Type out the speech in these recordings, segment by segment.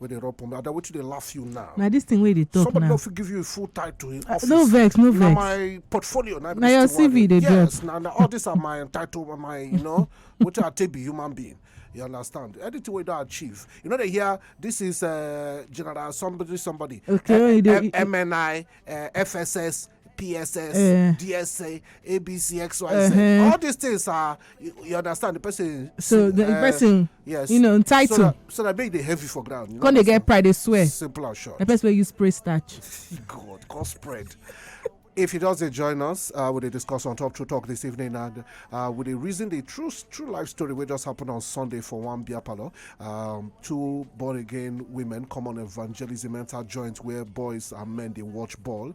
wey dey rub pomade ada wetin dey laugh you now na this thing wey you dey talk somebody now no fit give you a full title in Ah, office no vex no na vex my portfolio na be Na this your thing wey I CV dey drop. yes na na all these are my entitled my you know wetin i take be human being you understand anything wey you don achieve you no dey hear this is uh, general somebody somebody Okay, you dey- you- mni uh, fss pss uh, eh. dsa abc xyz uh -huh. Uh-huh. all these things are you, you understand the person so the uh, person yes you know title so that, so that make the heavy for ground you know they get pride they swear simple and short the person wey use spray starch god god spread if you just join us, uh, we discuss on Top True Talk this evening and uh, we reason the true true life story which just happened on Sunday for one beer parlor. Um, two born again women come on evangelism mental joint where boys and men they watch ball.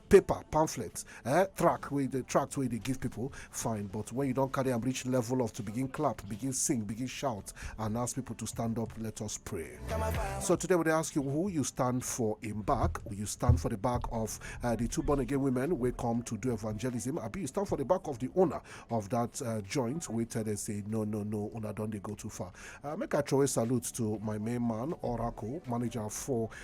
paper pamphlets eh track wey the tract wey dey give people fine but when you don carry am reach level of to begin clap begin sing begin shout and ask people to stand up let us pray so today we dey ask you who you stand for in back you stand for the back of uh, the two born again women wey come to do evangelism abi you stand for the back of the owner of that uh, joint wey tell them say no no no una don dey go too far uh, make i throw a salute to my main man oracle manager for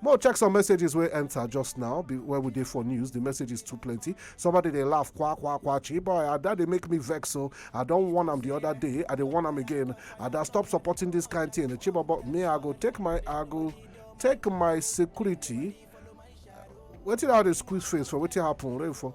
More check some messages wey enter just now be- when we dey for news. The messages too plenty. Somebody dey laugh kwa kwa kwa chi boy. Ada dey make me vex so I don warn am the other day. I dey warn am again. Ada stop supporting this kind thing. Chibobo me I go take my I go take my security. Wetin I dey squeeze face for? Wetin happen? Rain for?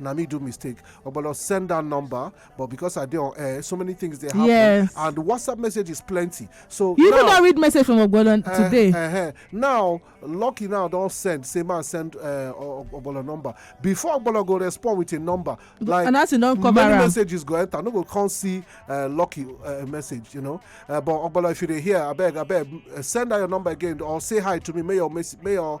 na me do mistake ogbolo send that number but because i dey on air so many things dey happen yes. and whatsapp message is plenty so you even don read message from ogbolo uh, eh, today uh, uh, now lucky now don send say man send uh, ogbolo number before ogbolo go respond with a number like and as e don cover many messages go enter no go come see uh, lucky uh, message you know uh, but ogbolo if you dey hear abeg abeg uh, send out your number again or say hi to me may your may your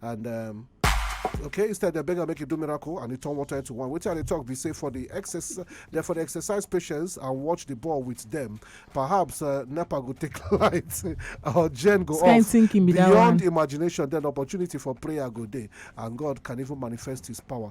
and um, okay instead dem beg am make e do miracle and e turn water into wine wetin i dey talk be say for the exercise for the exercise patients and watch the ball with them perhaps uh, nepa go take light or gen go off beyond imagination then opportunity for prayer go dey and god can even manifest his power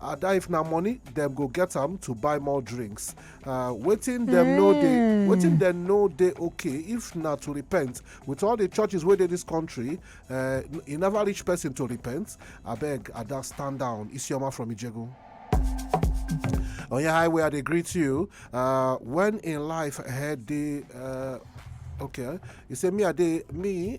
ada if na money dem go get am to buy more drinks uh, wetin dem no dey hmm. wetin dem no dey okay if na to repent with all the churches wey dey this country uh, e never reach person to repent abeg ada stand down isioma from ijegun. On your highway, I dey greet you. Uh, when in life, I had the uh, okay, you say me, I dey me.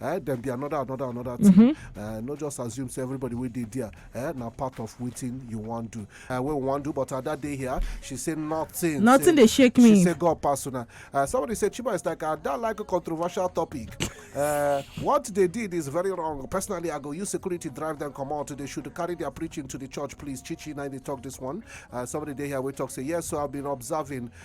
eh, then be another another another thing mm-hmm. eh, not just assume say everybody will dey there eh, na part of wetin you wan do eh, wey we wan do but ada dey here she say nothing nothing dey shake me she say god pass una eh, somebody say chiba is like ada like a controversial topic uh, what they did is very wrong personally i go use security drive them come out they should carry their preaching to the church please chichi now they talk this one uh, somebody dey here wey talk say yes so i've been observing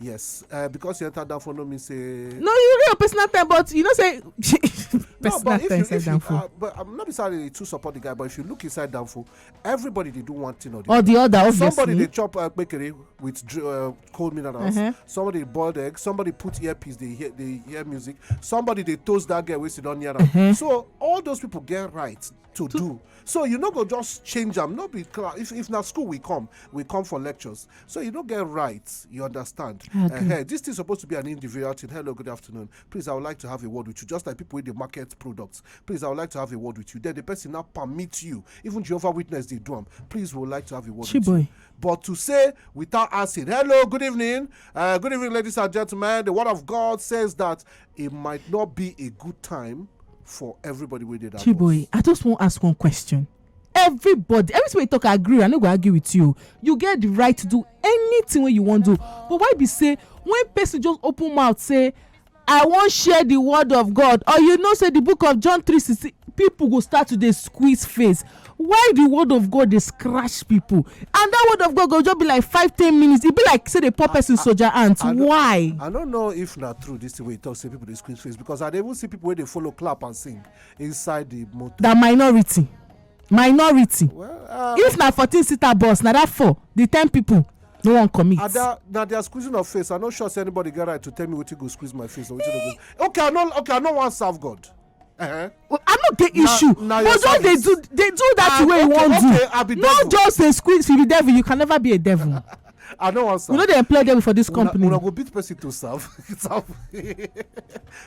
yes uh, because you enter down for no mean say. no you real personal time but you know say. no but if you if you uh, but i'm um, not necessarily to support the guy but if you look inside danfo everybody dey do one thing or the or the other obviously somebody dey chop uh, bakery with uh, cold minerals uh-huh. somebody boiled egg somebody put earpiece dey hear dey hear music somebody dey toast that girl wey sit down near am uh-huh. so all those people get right to do so you no go just change am no be class if if na school we come we come for lectures so you no get rights you understand uh this thing suppose to be an individual thing hello good afternoon please i would like to have a word with you just like people wey dey market products please i would like to have a word with you then the person now permit you even jehovah witness dey do am please we would like to have a word with you Chiboy. but to say without asking hello good evening uh, good evening ladies and gentlemen the word of god says that It might not be a good time for everybody wey dey that bus. Chiboy, I just wan ask one question. Everybody, everything wey you talk, I agree. I no go argue with you. You get the right to do anything wey you wan do. But why be say when person just open mouth say, I wan share the word of God, or you know say the book of John three sixteen, people go start to dey squeeze face. why the word of god dey scratch people and that word of god go just be like five ten minutes e be like say dey pour person soldier ant why. i no know if na true this thing wey you talk say people dey squeeze face because i dey even see people wey dey follow clap and sing inside the motor. na minority minority well, uh, if na fourteen seater bus na that four the ten people no wan commit. ada na their squeezing of face i no sure say anybody get right to tell me wetin go squeeze my face or wetin no go okay i no okay i no wan serve god. Uh-huh. Well, i no get issue but just dey do dey do that ah, way you wan do no just dey squeeze if you be devil you can never be a devil i no wan serve we no dey employ devil for this company una go beat person to serve serve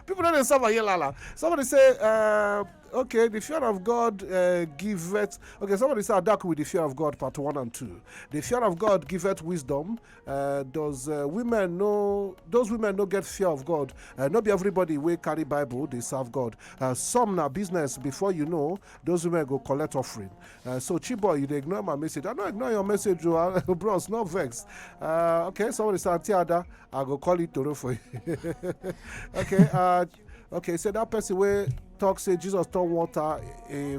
people no dey serve aye lala somebody say uh, okay the fear of god uh, giveth okay somebody say adaku with the fear of god part one and two the fear of god giveth wisdom Uh, does uh, women know those women no get fear of god uh, not be everybody will carry bible they serve god uh, some now business before you know those women go collect offering uh, so chiboy you ignore my message i don't ignore your message oh, uh, bros no vex okay somebody say tiada i go call it toro for you okay okay so that person wey talk say jesus turn water uh,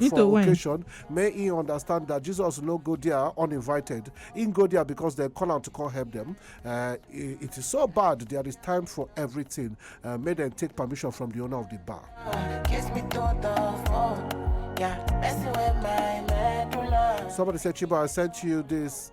for occasion may he understand that jesus no go there uninvited he go there because they call am to come help them uh, it is so bad there is time for everything uh, make dem take permission from the owner of the bar. Somebody said, Chiba, I sent you this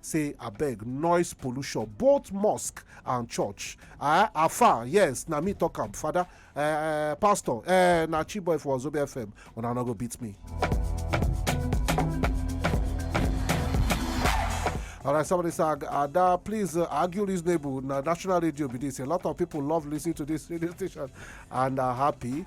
say abeg noise pollution both mosque and church ah afar yes na me talk am father eh, eh, pastor eh, na chiboy for ozobe fm una no go beat me. All right, somebody said, Ada, please uh, argue reasonable. Now, national radio be this. A lot of people love listening to this radio station and are happy.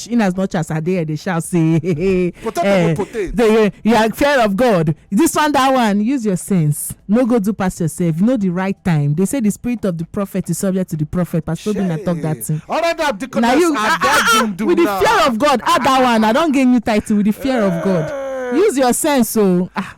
church in as much as i dey here dey shout say Potato eh, go potato. the- you are fear of god this one that one use your sense no go do pass yourself you know the right time they say the spirit of the prophet is subject to the prophet pastor obinna talk that thing Alright, I'm the na you ah, ah, ah, with the fear of god add that one i don gain new title with the fear of god use your sense o ah